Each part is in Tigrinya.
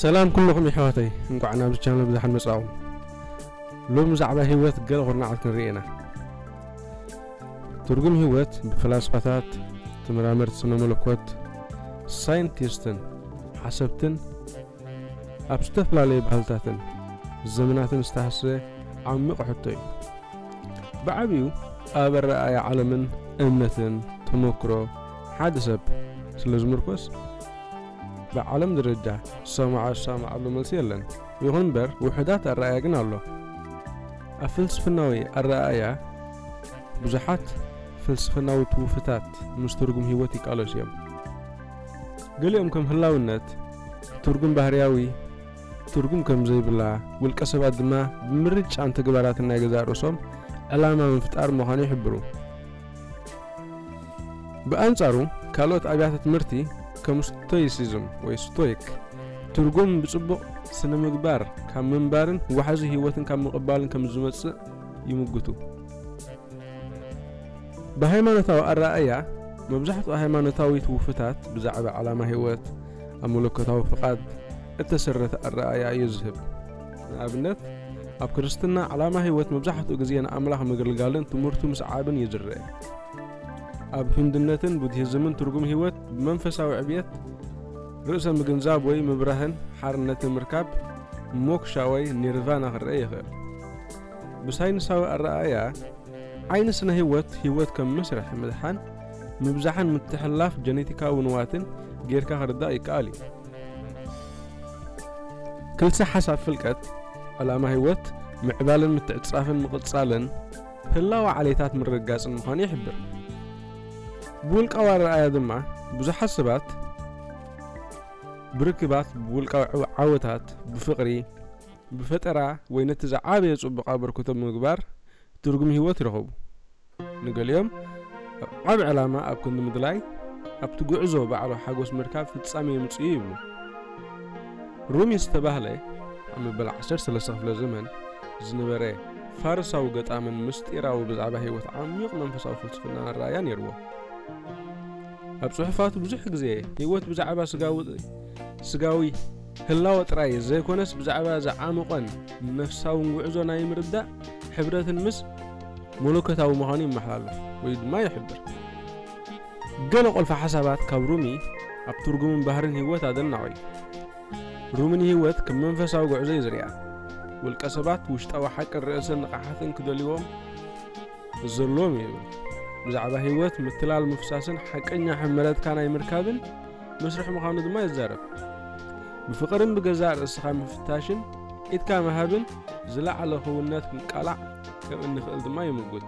ሰላም ኩሉኹም የሕዋተይ እንቋዕ ናብዚ ቻነል ብዛሓን መጻኹም ሎም ብዛዕባ ህይወት ገለ ኩርናዓት ክንርኢ ኢና ትርጉም ህይወት ብፈላስፋታት ተመራመርቲ ስነ መለኮት ሳይንቲስትን ሓሰብትን ኣብ ዝተፈላለዩ ባህልታትን ዘመናትን ዝተሃሰ ዓሚቕ ሕቶ እዩ ብዓብዩ ኣብ ኣረኣእያ ዓለምን እምነትን ተመክሮ ሓደ ሰብ ስለ ዝምርኮስ ብዓለም ደረጃ ዝሰማዖ ዝሰማዓሉ መልሲ የለን። ይኹን እምበር ውሑዳት ኣረኣእያ ግን ኣሎ። ኣብ ፍልስፍናዊ ኣረኣእያ ብዙሓት ፍልስፍናዊ ትውፊታት ምስ ትርጉም ህይወት ይቃለሱ እዮም። ገሊኦም ከም ህላውነት፣ ትርጉም ባህርያዊ፣ ትርጉም ከም ዘይብላ፣ ውልቀ ሰባት ድማ ብምርጫን ተግባራትን ናይ ገዛእ ርእሶም ዕላማ ምፍጣር ምዃኑ ይሕብሩ። ብኣንጻሩ ካልኦት ኣብያተ ትምህርቲ ከም ስቶይሲዝም ወይ ስቶይክ ትርጉም ብጽቡቕ ስነ ምግባር ካብ ምንባርን ዋሕዚ ህይወትን ካብ ምቕባልን ከም ዝመጽእ ይምጉቱ ብሃይማኖታዊ ኣረኣእያ መብዛሕትኡ ሃይማኖታዊ ትውፍታት ብዛዕባ ዓላማ ህይወት ኣብ መለኮታዊ ፍቓድ እተሰረተ ኣረኣእያ እዩ ዝህብ ንኣብነት፣ ኣብ ክርስትና ዕላማ ህይወት መብዛሕትኡ ግዜ ንኣምላኽ ምግልጋልን ትምህርቱ ምስዓብን እዩ ዝረኣ። ኣብ ህንድነትን ቡድሂዝምን ትርጉም ህይወት ብመንፈሳዊ ዕብየት፣ ርእሰ ምግንዛብ ወይ ምብራህን ሓርነትን ምርካብ፣ ሞክሻ ወይ ኒርቫና ክረኣ ይኽእል። ብሳይንሳዊ ኣረኣእያ ዓይኒ ስነ ህይወት፣ ህይወት ከም መስርሕ ምድሓን፣ ምብዛሕን ምትሕልላፍ ጀኔቲካዊ ንዋትን ጌርካ ክርዳእ ይከኣል እዩ። ክልሰ ሓሳብ ፍልቀት፣ ዕላማ ህይወት፣ ምዕባለን ምትዕጽጻፍን ምቕጻልን ህላወ ዓሌታት ምርግጋጽን ምዃኑ ይሕብር። ብውልቃዊ ኣረኣእያ ድማ ብዙሓት ሰባት ብርክባት፣ ብውልቃዊ ዓወታት፣ ብፍቕሪ፣ ብፈጠራ ወይ ነቲ ዝዓበየ ጽቡቕ ኣበርክቶ ብምግባር ትርጉም ህይወት ይረኽቡ። ንገሊኦም ዓቢ ዕላማ ኣብ ክንዲ ምድላይ ኣብቲ ጉዕዞ ባዕሉ ሓጎስ ምርካብ ፍጻሜ የምጽእ'ዩ ይብሉ። ሩሚ ዝተባህለ ኣብ መበል ዓሰርተ ሰለስተ ክፍለ ዘመን ዝነበረ ፋርሳዊ ገጣምን ምስጢራዊ ብዛዕባ ህይወት ዓሚቕ መንፈሳዊ ፍልስፍናን ኣረኣእያ ነይርዎ። ኣብ ጽሑፋቱ ብዙሕ ግዜ ህይወት ብዛዕባ ስጋዊ ህላወ ጥራይ ዘይኮነስ ብዛዕባ ዝዓምቖን ነፍሳውን ጉዕዞ ናይ ምርዳእ ሕብረትን ምስ መለኮታዊ ምዃኑ ይመሓላለፍ ወይ ድማ ይሕብር። ገለ ቁልፊ ሓሳባት ካብ ሩሚ ኣብ ትርጉምን ባህርን ህይወት ኣደናቒ እዩ። ሩሚ ንህይወት ከም መንፈሳዊ ጉዕዞ እዩ ዝሪኣ። ውልቀ ሰባት ውሽጣዊ ሓቅን ርእሰ ንቕሓትን ክደልዎም ዘለዎም እዩ ይብል። ብዛዕባ ህይወት ምትላል ምፍሳስን ሓቀኛ ሕመረትካ ናይ ምርካብን መስርሕ ምዃኑ ድማ ይዛረብ። ብፍቕርን ብገዛእ ርእስኻ ምፍታሽን ኢድካ ምሃብን ዝለዓለ ክውንነት ምቃላዕ ከም እንኽእል ድማ ይምጉት።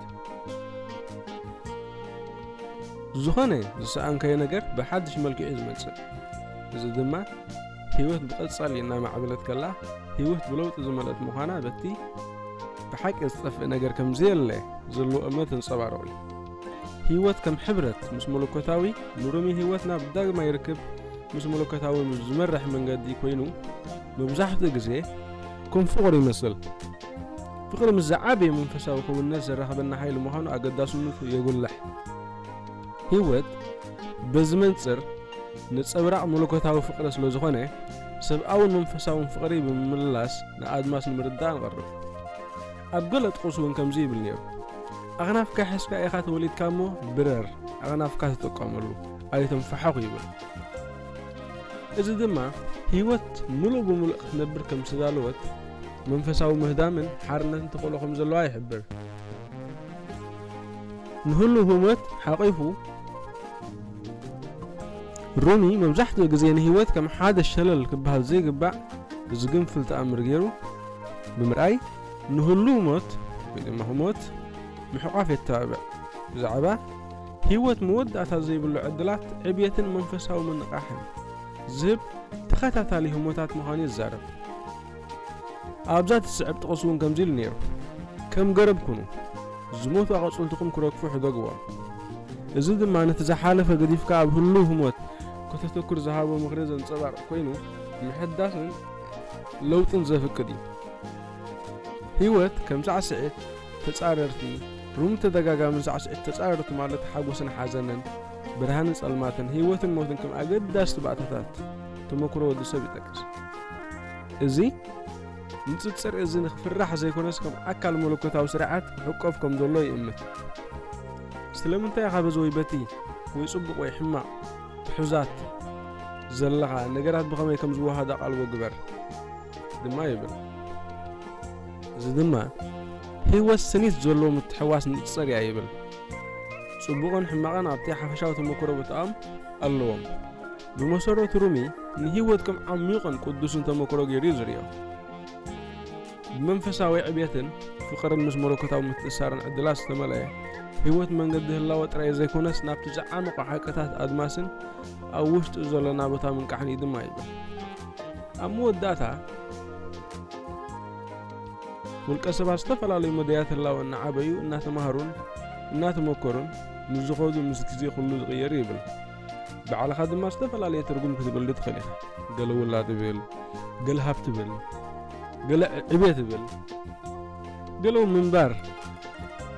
ዝኾነ ዝሰኣንካዮ ነገር ብሓድሽ መልክዕ እዩ ዝመጽእ። እዚ ድማ ህይወት ብቐጻሊ እናማዕበለት ከላ ህይወት ብለውጢ ዝመልአት ምዃና በቲ ብሓቂ ዝጠፍእ ነገር ከም ዘየለ ዘለዎ እምነት እንጸባረቑ እዩ። ህይወት ከም ሕብረት ምስ መለኮታዊ ንሮሚ ህይወት ናብ ዳግማይ ርክብ ምስ መለኮታዊ ዝመርሕ መንገዲ ኮይኑ መብዛሕትኡ ግዜ ከም ፍቕሩ ይመስል ፍቕሪ ምስ ዝዓበየ መንፈሳዊ ክውንነት ዘራኽበና ሓይሊ ምዃኑ ኣገዳስነቱ የጉልሕ። ህይወት በዚ መንጽር ነጸብራቕ መለኮታዊ ፍቕሪ ስለ ዝኾነ፣ ሰብኣውን መንፈሳውን ፍቕሪ ብምምልላስ ንኣድማስ ንምርዳእ ንቐርብ። ኣብ ገለ ጥቕስ እውን ከምዚ ይብል ነይሩ፣ ኣኽናፍካ ሒዝካ ኢኻ ተወሊድካ እሞ ብረር፣ ኣኽናፍካ ተጠቀመሉ፣ ኣይተንፋሕኹ ይብል። እዚ ድማ ህይወት ምሉእ ብምሉእ ክትነብር ከም ዝተዳለወት፣ መንፈሳዊ ምህዳምን ሓርነትን ተኽእሎ ከም ዘለዋ ይሕብር። ንህሉው ህሞት ሓቚፉ፣ ሩኒ መብዛሕትኡ ግዜ ንህይወት ከም ሓደ ሸለል ክበሃል ዘይግባእ ዝግንፍል ተኣምር ገይሩ ብምርኣይ ንህሉው ሞት ወይ ድማ ህሞት ምሕቋፍ የተባብዕ። ብዛዕባ ህይወት መወዳእታ ዘይብሉ ዕድላት ዕብየትን መንፈሳዊ ምንቓሕን ዝህብ ተኸታታሊ ህሞታት ምዃኑ ይዛረብ። ኣብዛ እትስዕብ ጥቕስ እውን ከምዚ ኢሉ ነይሩ፣ ከም ገረብ ኩኑ፣ ዝሞቱ ኣቐጽልትኹም ክረግፉ ሕደግዎም። እዚ ድማ ነቲ ዝሓለፈ ገዲፍካ ኣብ ህሉው ህሞት ከተተኩር ዝሃቦ ምኽሪ ዘንጸባርቕ ኰይኑ፣ ምሕዳስን ለውጥን ዘፍቅድ እዩ። ህይወት ከም ሳዕስዒት ተጻረርቲ፣ ሩም ተደጋጋምን ሳዕስዒት ተጻረርቲ ማለት ሓጎስን ሓዘንን፣ ብርሃንን ጸልማትን፣ ህይወትን ሞትን ከም ኣገዳስቲ ባእታታት ተመኩሮ ወዲ ሰብ ይጠቅስ። እዚ ንጽጽር እዚ ንክፍራሕ ዘይኮነስ ከም ኣካል መለኮታዊ ስርዓት ክሕቆፍ ከም ዘሎ ይእምት። ስለምንታይ ኢኻ በዚ ወይ በቲ ወይ ጽቡቕ ወይ ሕማቕ ትሑዛት ዘለኻ፣ ነገራት ብኸመይ ከም ዝወሃሃዱ ኣቓልቦ ግበር። ድማ ይብል። እዚ ድማ ህይወት ስኒት ዘለዎ ምትሕዋስ ንጽር እያ ይብል። ጽቡቕን ሕማቕን ኣብቲ ሓፈሻዊ ተመክሮ ቦታኦም ኣለዎም። ብመሰረቱ ሩሚ ንህይወት ከም ዓሚቕን ቅዱስን ተመክሮ ገይሩ እዩ ዝርእዮ። ብመንፈሳዊ ዕብየትን ፍቕርን ምስ መለኮታዊ ምትእሳርን ዕድላት ዝተመልአ ህይወት መንገዲ ህላወ ጥራይ ዘይኮነስ ናብቲ ዝዓመቑ ሓቅታት ኣድማስን ኣብ ውሽጡ ዘሎ ናቦታ ምንቃሕን እዩ ድማ ይብል። ኣብ መወዳእታ፣ ውልቀ ሰባት ዝተፈላለዩ መዳያት ህላወ እናዓበዩ፣ እናተማህሩን እናተመኮሩን ምስ ዝኸዱ ምስ ግዜ ኩሉ ዝቕየር እዩ ይብል። ባዕልኻ ድማ ዝተፈላለየ ትርጉም ክትብሉ ትኽእል ኢኻ። ገለ ውላድ እብል፣ ገለ ሃብቲ እብል፣ ገለ ዕቤት እብል፣ ገለ እውን ምንባር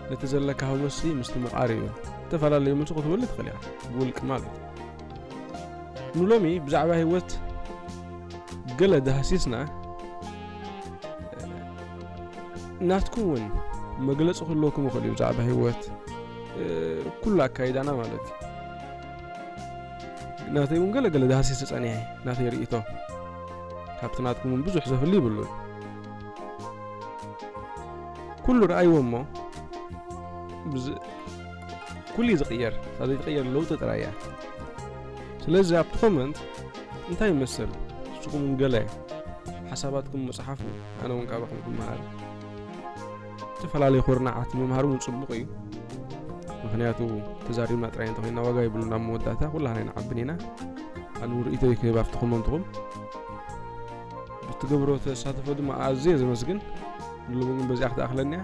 ነቲ ዘለካ ሃጎስ ምስቲ ምቓር እዩ። ዝተፈላለዩ መልሲ ክትብሉ ትኽእል ኢኻ፣ ብውልቂ ማለት እዩ። ንሎሚ ብዛዕባ ህይወት ገለ ዳህሲስና ናትኩም እውን መግለፂ ክህልወኩም ይኽእል እዩ ብዛዕባ ህይወት ኩሉ ኣካይዳና ማለት እዩ ናተይ እውን ገለ ገለ ዳህሲስ ተፀኒሐ ናተይ ርእቶ ካብቲ ናትኩም እውን ብዙሕ ዘፍሊ ይብሉን ኩሉ ረኣይዎ እሞ ኩሉ እዩ ዝቕየር እታ ዘይትቕየር ለውጢ ጥራይ እያ ስለዚ ኣብቲ ኮመንት እንታይ ይመስል ንስኹም እውን ገለ ሓሳባትኩም መጽሓፉ ኣነ እውን ካባኹም ክመሃር ዝተፈላለዩ ኩርናዓት ምምሃር እውን ጽቡቕ እዩ ምክንያቱ ተዛሪብና ጥራይ እንተኮይና ዋጋ ይብሉና ኣብ መወዳእታ ኩላና ይንዓብን ኢና ኣነ ርእቶ ይክህብ ኣብቲ ኮመንትኹም ብትገብሮ ተሳትፎ ድማ ኣዝየ ዘመስግን ንሎሚ ግን በዚኣ ክትኣኽለኒ እያ